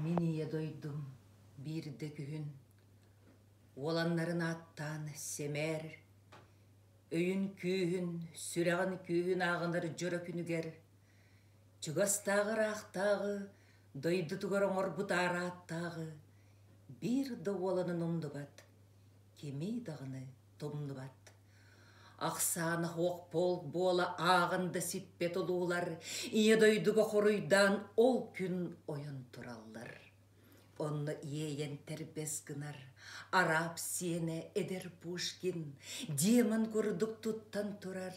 Мин ийэ дойдум биирдэ күһүн уоланнарын ааттаан сэмээр өйүн күүһүн сүрэҕин күүһүн ааҕынар дьоро күнүгэр чугастааҕы ыраахтааҕы дойдутугар оҥорбут аарааттааҕы биир да уоланын умнубат кимий даҕаны тумнубат Ахсаана оһох полк буола ааҕан да сиппэт одуулар Ийэ дойдуга хоруйдаан ол күн ойон тураллар. Онно иэйэн тэрбэс гынар араб сиэнэ эдэр Пушкин демон курдук туттан турар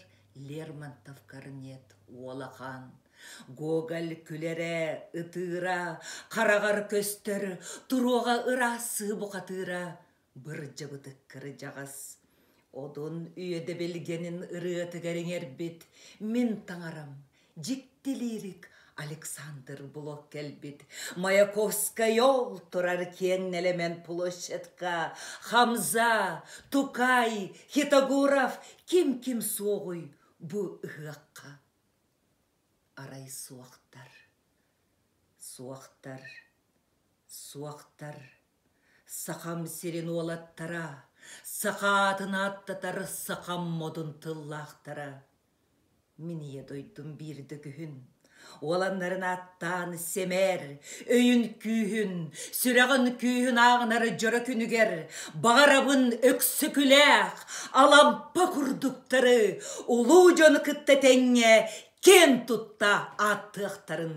Лермонтов корнет уолахан Гоголь күлэрэ ытыыра хараҕар көстөр туруоҕа ыраастыы бухатыыра Бырдьыбытык кырдьаҕас, одун үөдэбилгэнин ырыатыгар иҥэрбит мин таҥарам, дьиктилиирик Александр Блок кэлбит Маяковскай ол турар киэҥ нэлэмэн площадка Хамза, Тукай, Хитогуров ким ким суоҕуй бу ыһыахха. Арай суохтар, суохтар, суохтар Сахам сирин уолаттара, саха аатын ааттатар сахам модун тыллаахтара. Мин ийэ дойдум биирдэ күһүн уоланнарын ааттаан сэмээр өйүн күүһүн, сүрэҕин күүһүн ааҕынар дьоро күнүгэр баҕарабын Өксөкүлээх Алампа курдуктары улуу дьону кытта тэҥҥэ киэн тутта ааттыахтарын.